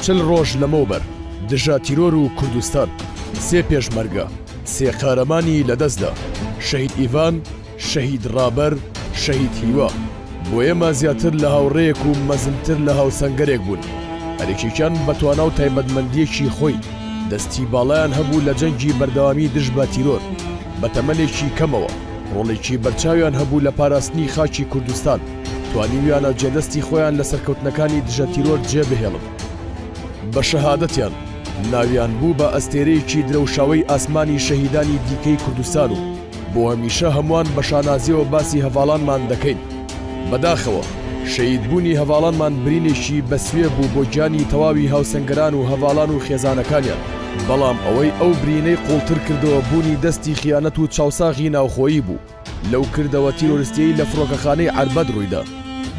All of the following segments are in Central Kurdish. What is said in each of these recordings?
چل ڕۆژ لەمەوبەر دژە تیرۆر و کوردستان سێ پێشمەرگە سێ قارەمانی لەدەستدا شەهید ئیڤان شەهید ڕابەر شەهید هیوا بۆ ئێمە زیاتر لە هاوڕێیەک و مەزنتر لە هاوسەنگەرێک بوون هەرێکێکیان بەتوانا و تایبەتمەندیەکی خۆی دەستی باڵیان هەبوو لە جەنگی بەردەوامی دژ بە تیرۆر بە تەمەنێکی کەمەوە ڕۆڵێکی بەرچاویان هەبوو لە پاراستنی خاکی کوردستان توانیویانە جێدەستی خۆیان لە سەرکەوتنەکانی دژە تیرۆر جێ بهێڵن. بە شەهادەتیان ناویان بوو بە ئەستێرەیەکی درەوشاوەی ئاسمانی شەهیدانی دیکەی کوردستان و بۆ هەمیشە هەمووان بە شانازییەوە باسی هەڤاڵانمان دەکەین. بەداخەوە شەهیدبوونی هەڤاڵانمان برینێکی بەسوێ بوو بۆ گیانی تەواوی هاوسەنگەران و هەڤاڵان و خێزانەکانیان، بەڵام ئەوەی ئەو برینەی قووڵتر کردەوە بوونی دەستی خیانەت و چاوساغی ناوخۆیی بوو. لەو کردەوە تیرۆرستیەی لە فڕۆکەخانەی عەربەت ڕوویدا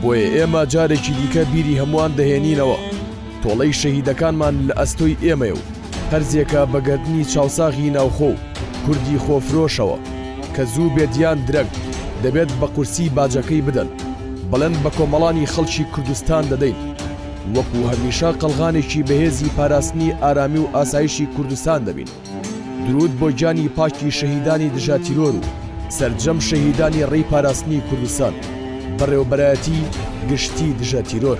بۆیە ئێمە جارێکی دیکە بیری هەمووان دەهێنینەوە تۆڵەی شەهیدەکانمان لە ئەستۆی ئێمەیە و هەرزێکە بەگەردنی چاوساغی ناوخۆ و کوردی خۆفرۆشەوە کە زوو بێت یان درەنگ دەبێت بە قورسی باجەکەی بدەن بەڵند بە کۆمەڵانی خەڵکی کوردستان دەدەین وەکو هەمیشە قەلغانێکی بەهێزی پاراستنی ئارامی و ئاسایشی کوردستان دەبین. درود بۆ گیانی پاکی شەهیدانی دژاتیرۆر و سەرجەم شەهیدانی ڕێی پاراستنی کوردستان بەڕێوبەرایەتی گشتی دژە تیرۆر.